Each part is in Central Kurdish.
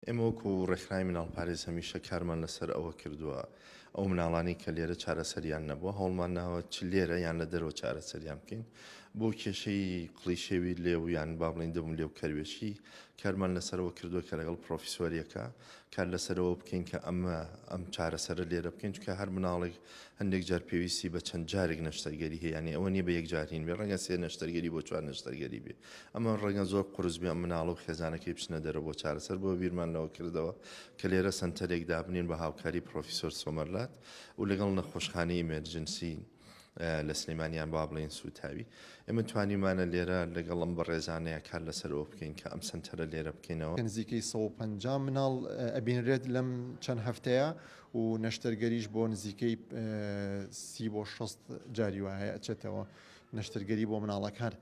ئێمە وەکو ڕێکخراوی مناڵپارێز هەمیشە کارمان لەسەر ئەوە کردووە ئەو مناڵانەی کە لێرە چارەسەریان نەبووە هەوڵمان ناوە چ لێرە یان لە دەرەوە چارەسەریان بکەین بۆ کێشەی قڵیشێوی لێو یان با بڵین دەبووم لێو کەروێشی کارمان لەسەرەوە کردووە کە لەگەڵ پرۆفیسۆریەکە کار لەسەرەوە بکەین کە ئەمە ئەم چارەسەرە لێرە بکەین چکە هەر مناڵێک هەندێک جار پێویستی بە چەند جارێک نەشتەرگەری هەیە یانی ئەوە نیە بە یەک جارین بێ ڕەنگە سێ نەشتەرگەری بۆ چوار نەشتەرگەری بێ ئەمە ڕەنگە زۆر قورس بێ مناڵە و خێزانەکەی بچنە دەرەوە بۆ چارەسەر بۆ بیرمان لەوە کردەوە کە لێرە سەنتەرێک دابنین بە هاوکاری پرۆفیسۆر سۆمەرلات و لەگەڵ نەخۆشخانەی ئیمێرجنسی لە سلێمانیان با بڵێن سوتاوی ئێمە توانیمانە لێرە لەگەڵ ئەم بەڕێزانەیە کار لەسەرەوە بکەین کە ئەم سنتەرە لێرە بکەینەوە نزیکەی 150 مناڵ ئەبینرێت لەم چەند هەفتەیە و نەشتەرگەریش بۆ نزیکەی سی بۆ 6 جاری وایە ئەچێتەوە نەشتەرگەری بۆ مناڵەکان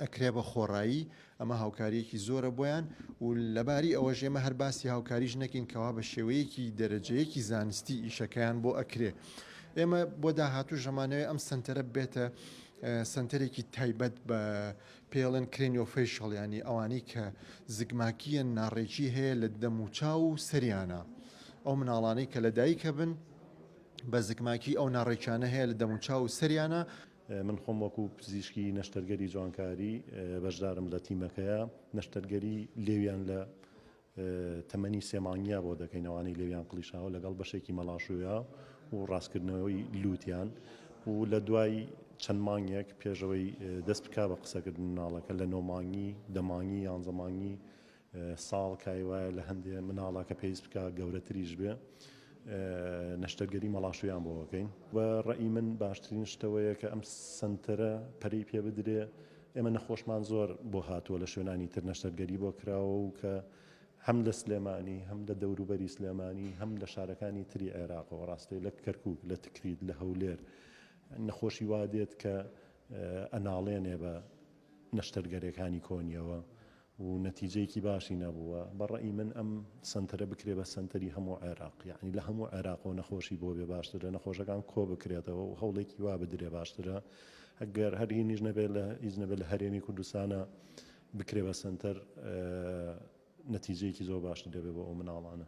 ئەکرێ بە خۆڕایی، ئەمە هاوکارییەکی زۆرە بۆیان و لەباری ئەوەش ئێمە هەر باسی هاوکاریش نەکەین کەوا بە شێوەیەکی دەرەجەیەکی زانستی ئیشەکەیان بۆ ئەکرێ. ئێمە بۆ داهاتووش ئەمانەوێ ئەم سەنتەرە ببێتە سەنتەرێکی تایبەت بە پێڵێن کرێنیۆفەیشەڵ یانی ئەوانەی کە زگماکییەن ناڕێکی هەیە لە دەموچاو و سەریانە ئەو مناڵانەی کە لە دایکە بن بە زگماکی ئەو ناڕێکیانە هەیە لە دەموچاو و سەریانە من خۆم وەکو پزیشکی نەشتەرگەری جوانکاری بەشدارم لە تیمەکەیە نەشتەرگەری لێویان لە تەمەنی سێ مانگیا بۆ دەکەین ئەوانەی لێویان قڵیشاوە لەگەڵ بەشێکی مەڵاشویا و ڕاستکردنەوەی لووتیان و لە دوای چەند مانگێک پێشەوەی دەست بک بە قسەکردن مناڵەکە لە نۆمانگی دەمانگی یانزەمانگی ساڵ کای وایە لە هەندێ مناڵە کە پێویست بکا گەورەتریش بێ نەشتەرگەری مەڵاشویان بۆ بکەین و ڕێی من باشترین شتەوەیە کە ئەم سنتەرە پەری پێ بدرێ ئێمە نەخۆشمان زۆر بۆ هاتووە لە شوێنانی تر نەشتەرگەری بۆ کراوە و کە هەم لە سلێمانی هەم لە دەوروبەری سلێمانی هەم لە شارەکانی تری عێراقەوە ڕاستەی لە کەرکک لە تکریت لە هەولێر نەخۆشی وادێت کە ئەناڵێنێ بە نەشتەرگەرەکانی کۆنیەوە و نەتیجەیەکی باشی نەبووە بە ڕەئی من ئەم سەنتەرە بکرێ بە سەنتەری هەموو عێراق یەعنی لە هەموو عێراقەوە نەخۆشی بۆ بێ باشترە نەخۆشەکان کۆ بکرێتەوە و هەوڵێکی وا بدرێ باشترە ئەگەر هەر هینیش نەبێت لە هیچ نەبێت لە هەرێمی کوردستانە بکرێ بە سەنتەر نەتیجەیەکی زۆر باشتر دەبێت بۆ ئەو مناڵانە.